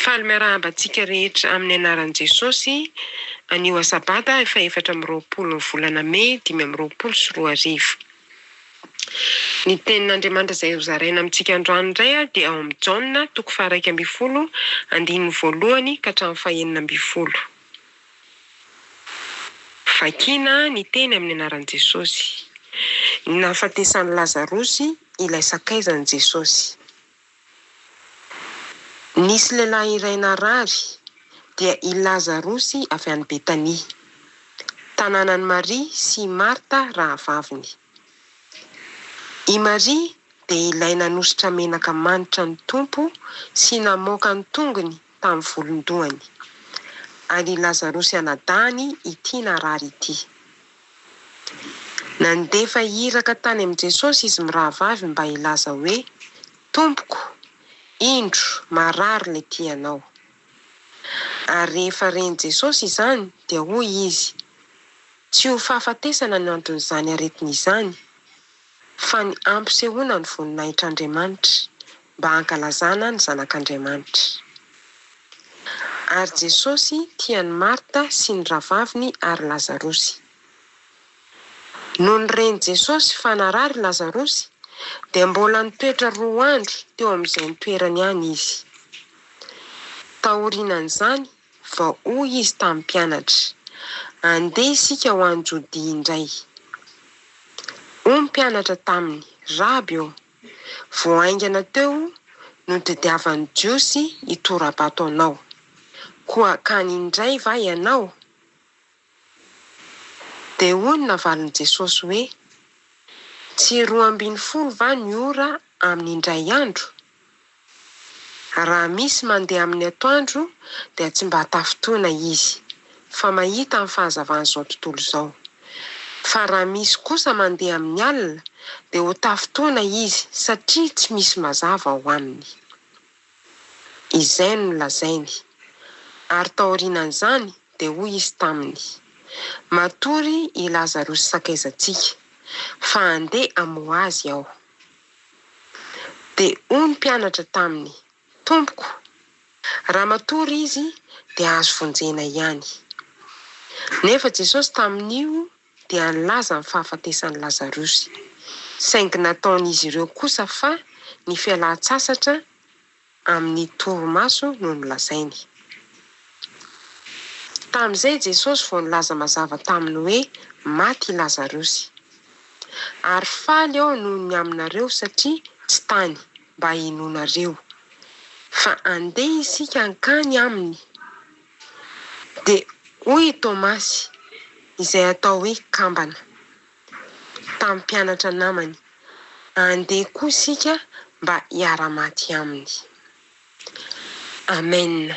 Faly miarahaba antsika rehetra amin'ny anaran'i Jesosy anio Asabada fahaefatra amby roapolo ny volana May dimy amby roapolo sy roa arivo. Ny tenin'Andriamanitra izay hozaraina amintsika androany indray dia ao amin'ny Jaona toko faharaika ambin'ny folo andininy voalohany ka hatramin'ny fahenina ambin'ny folo. Vakina ny teny amin'ny anaran'i Jesosy. Ny nahafatesan'i Lazarosy ilay sakaizan'i Jesosy. Nisy lehilahy iray narary, dia i Lazarosy avy any Betania, tanànan'i Maria sy i Marta rahavaviny. I Maria dia ilay nanosotra menaka manitra ny Tompo sy namoaka ny tongony tamin'ny volon-dohany. An'i Lazarosy anadahiny ity narary ity. Nandefa iraka tany amin'i Jesosy izy mirahavavy mba hilaza hoe, Tompoko, indro, marary ilay tianao. Ary rehefa ren'i Jesosy izany, dia hoy izy, Tsy ho fahafatesana no anton'izany aretina izany. Fa ny hampisehoana ny voninahitr'Andriamanitra, mba hankalazana ny Zanak'Andriamanitra. Ary Jesosy tia an'i Marta sy ny rahavaviny ary Lazarosy. Nony ren'i Jesosy fa narary Lazarosy, dia mbola nitoetra roa andro teo amin'izay nitoerany any Izy. Taorianan'izany, Fa hoy izy tamin'ny mpianatra, Andeha isika ho any Jodia indray. Hoy ny mpianatra taminy, Raby ô, vao haingana teo no tadiavan'ny Jiosy hitora-bato anao, koa hankany indray va ianao? Dia hoy ny navalin'i Jesosy hoe, Tsy roa ambin'ny folo va ny ora amin'ny indray andro? Raha misy mandeha amin'ny atoandro dia tsy mba tafintohina izy, fa mahita ny fahazavan'izao tontolo izao. Fa raha misy kosa mandeha amin'ny alina dia ho tafintohina izy satria tsy misy mazava ao aminy. Izay no nolazainy. Ary taorianan'izany dia hoy Izy taminy, Matory i Lazarosy sakaizantsika, fa handeha hamoha azy Aho. Dia hoy ny mpianatra taminy, Tompoko, raha matory izy dia azo vonjena ihany. Nefa Jesosy tamin'io dia nilaza ny fahafatesan'i Lazarosy, saingy nataon'izy ireo kosa fa ny fialan-tsasatra amin'ny torimaso no nolazainy. Tamin'izay Jesosy vao nilaza mazava taminy hoe, Maty i Lazarosy. Ary faly aho noho ny aminareo satria tsy tany mba hinoanareo, fa andeha isika hankany aminy. Dia hoy i Tomasy, izay atao hoe Kambana, tamin'ny mpianatra namany, Andeha koa isika mba hiara-maty aminy. Amena.